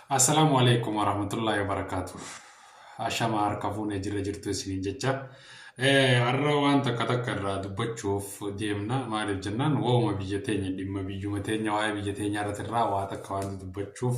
Assalaamu alaikum warahmatullahi wabarakatuh. Ashama harka fuunee jirra jirtu isiniin jecha. Eh, Har'a waan takka takka irraa dubbachuuf deemna. Maaliif jennaan waa'uma biyya teenya dhimma biyyuma teenya waa'ee biyya teenya irratti irraa waa takka waan dubbachuuf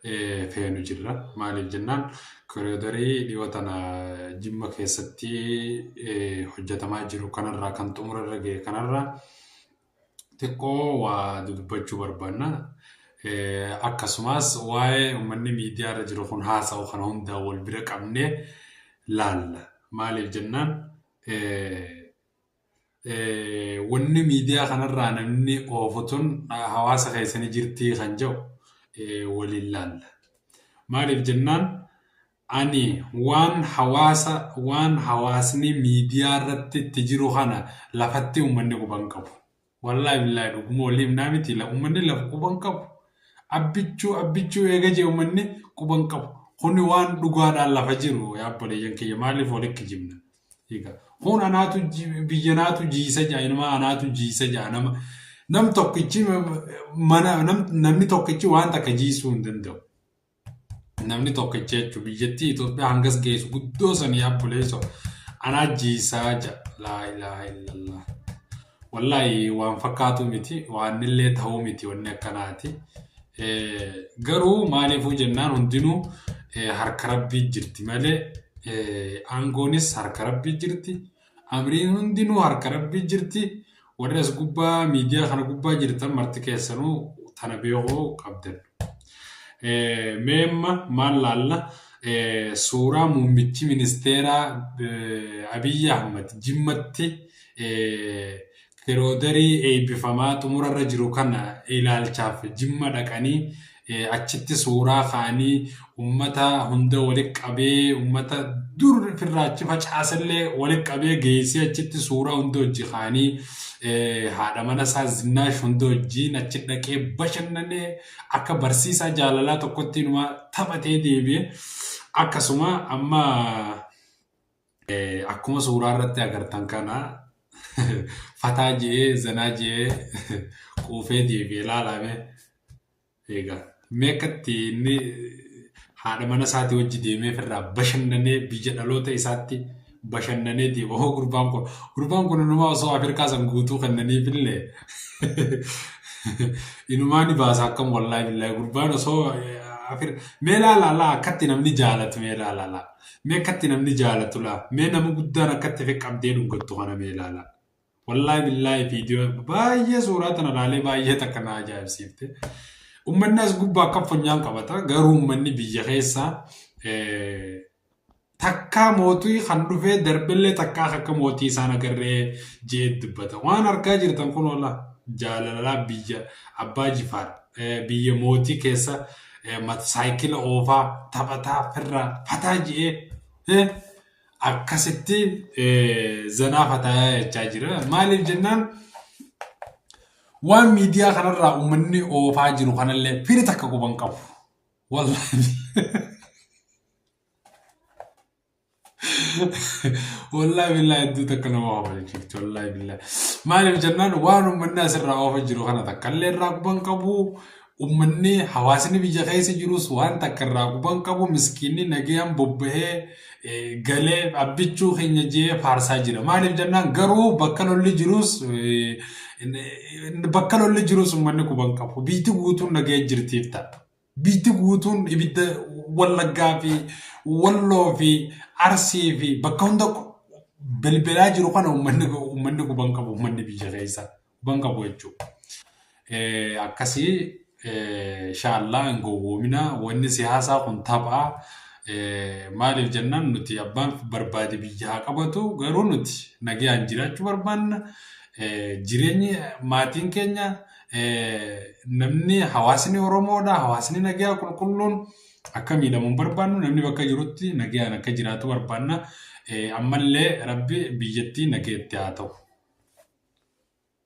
eh, feenu jirra. Maaliif jennaan koriidarii dhiyoo tana jimma keessatti eh, hojjetamaa jiru kanarraa kan xumura irra ga'e kanarraa xiqqoo waa dubbachuu barbaanna. Akkasumas waa'ee uummanni miidiyaa irra jiru kun haasa'u kana hundaa wal bira qabnee laalla. Maaliif jennaan wanni miidiyaa kanarraa namni oofu tun hawaasa keessanii jirtii kan jedhu waliin laalla. Maaliif jennaan Ani waan hawaasa waan hawaasni miidiyaa irratti itti jiru kana lafatti ummanni quban qabu. Wallaahi billaahi dhuguma walii himnaa miti la ummanni lafa quban qabu. Abbichuu abbichuu eega jee ummanni quban qabu. Kuni waan dhugaadhaan lafa jiru yaa obboleeyyan kiyya maaliif wali kijibna. Egaa kun anaatu ji- biyya naatu jiisa ja'a inuma anaatu jiisa ja'a nama nam tokkichi ma- mana nam- namni tokkichi waan takka jiisuu hin danda'u. namni tokkicha jechuun biyyattii Itoophiyaa hangas geessu guddoo sanii abboleesso anaa jiisaa ja laa ilaaha illallah. Wallaahi waan fakkaatu miti waan illee ta'uu miti wanni akkanaati. Eh, Garuu maaliifuu jennaan hundinuu eh, harka rabbii jirti malee eh, aangoonis harka rabbii jirti Amriin hundinuu harka rabbii jirti warri as gubbaa miidiyaa kana gubbaa jirtan marti keessanuu tana beekuu qabdan. Mee amma maal laalla suuraa muummichi ministeeraa Abiyyi Ahmad jimmatti Firoodarii eebbifamaa xumurarra jiru kana ilaalchaaf Jimma dhaqanii achitti suuraa ka'anii ummata hunda walitti qabee ummata dur firraa achi facaasellee walitti qabee geessee achitti suuraa hunda hojii ka'anii haadha mana isaa zinnaash hunda hojiin achi dhaqee bashannanee akka barsiisaa jaalalaa tokkotti inumaa taphatee deebi'e akkasuma amma Akkuma suuraa irratti agartan kana fataa je'ee zanaa je'ee quufee deebi'ee laalaame. Egaa mee akkatti inni haadha mana isaatii wajji deemee ofirraa bashannanee biyya dhaloota isaatti bashannanee deema. Hoo gurbaan kun gurbaan kun inumaa osoo Afrikaa san guutuu kennaniif illee inumaa ni baasa akkam wallaahi billaahi gurbaan osoo mee laalaalaa akkatti namni jaalatu mee laalaalaa. Mee akkatti namni jaalatu laa mee nama guddaan akkatti fi qabdee dhuggattu kana mee ilaalaa. Wallaahi billaahi viidiyoo baay'ee suuraa tana ilaalee baay'ee takka na ajaa'ibsiifte. Uummanni as gubbaa akka funyaan qabata garuu uummanni biyya keessaa takkaa mootii kan dhufee darbellee takkaa akka mootii isaan agarree je'ee dubbata. Waan argaa jirtan kun oola jaalalaa biyya abbaa jifaadha. biyya mootii keessa saayikila oofaa taphataa firraa fataa ji'ee akkasitti zanaa fataayaa jechaa jira. Maaliif jennaan waan miidiyaa kanarraa uummanni oofaa jiru kanallee firi takka quban qabu. Wallahi. Wallahi billahi hedduu takka nama hawwachiifti wallahi billahi. Maaliif jennaan waan uummanni asirraa oofa jiru kana takka illee irraa quban qabu uummanni hawaasni biyya keessa jirus waan takka irraa quban qabu miskiinni nagayaan bobbahee eh, galee abbichuu keenya jee faarsaa jira. Maaliif jennaan garuu bakka lolli jirus eh, bakka lolli jirus uummanni quban qabu. Biyyi guutuun nagaya jirtiif ta'a. Biyyi guutuun ibidda Wallaggaa fi Walloo fi Arsii fi bakka hunda bilbilaa jiru kana uummanni guban qabu uummanni biyya keessa guban qabu jechuudha. Akkasii shaallaa hin gowwoomina wanni siyaasaa kun tapha maaliif jennaan nuti abbaan barbaade biyya haa qabatu garuu nuti nagaan jiraachuu barbaanna jireenyi maatiin keenya Namni hawaasni Oromoodha. Hawaasni nagaa qulqulluun akka miidhamu hin barbaannu. Namni bakka jirutti nagaan akka jiraatu barbaanna. Ammallee rabbi biyyattii nageetti haa ta'u.